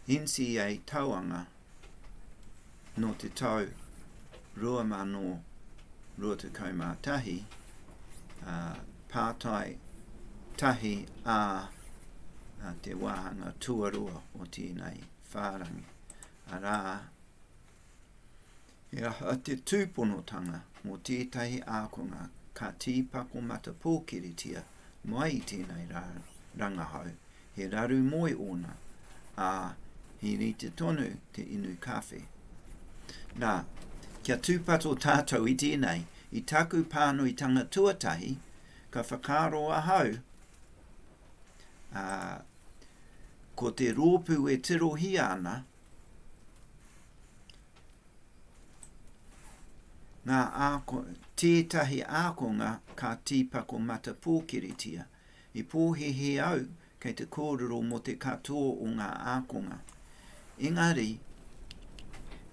NCEA Tauanga Nō te tau 2021, ā, pātai tahi ā te wāhanga tuarua o tēnei whārangi, arā, He aha te tūponotanga mō tētahi ākonga ka tīpako matapōkiritia mai i tēnei rangahau, he raru moe ōna, ā, he rite tonu te inu kawhe? Nā, kia tūpato tātou i tēnei, i taku pānuitanga tuatahi, ka whakaaro ahau, ā, ko te rōpū e tirohia ana, Ngā āko, tētahi ākonga ka tīpako matapōkiritia. I pōhēhē au kei te kōrero mō te katoa o ngā ākonga. Engari,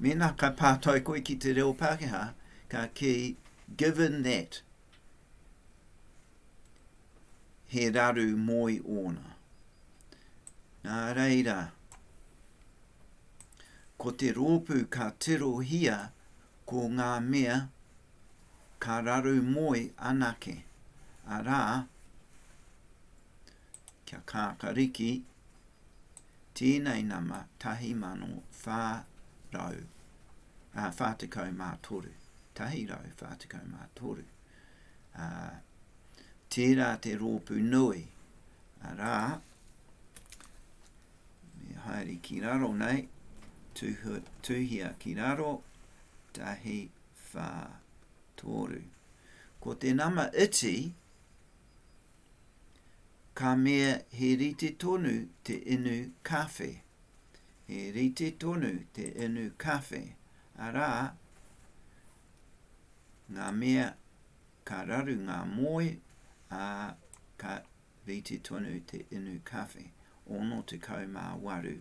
mēnā ka pātai koe ki te reo Pākehā, ka kī, given that, he raru moi ōna. Nā reira, ko te rōpū ka tirohia ko ngā mea ka raru moi anake, arā, kia kākariki, Tēnei nama 1443, 143, ā, tērā te rōpū nui, arā, me haere ki raro nei, tuhu, tuhia ki raro, tahi, whā, tōru. Ko te nama iti, Ka mea he rite tonu te inu kawhe, he rite tonu te inu kawhe, arā, ngā mea ka raru ngā moe, ā, ka rite tonu te inu kawhe. 68.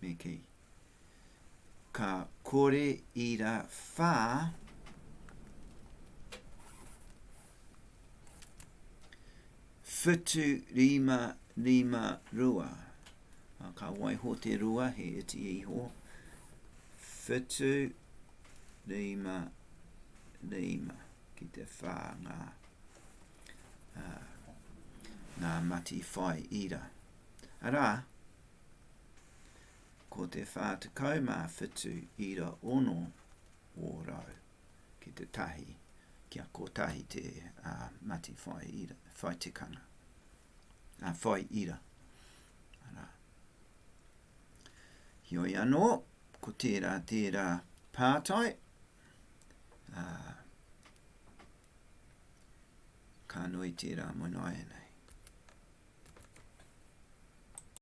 me kei. Ka kore i ra whā whitu rima rima rua. Ka waiho te rua he iti e iho. Whitu rima rima ki te whā ngā. ā, ngā mati whai ira. Arā, ko te 47 ira ono ōrau ki te tahi, kia kotahi te ā, mati whai ira, whai tikanga, ā, whai ira. Arā. Heoi anō, ko tērā tērā pātai, ā, ka nui tērā moe noa ianei.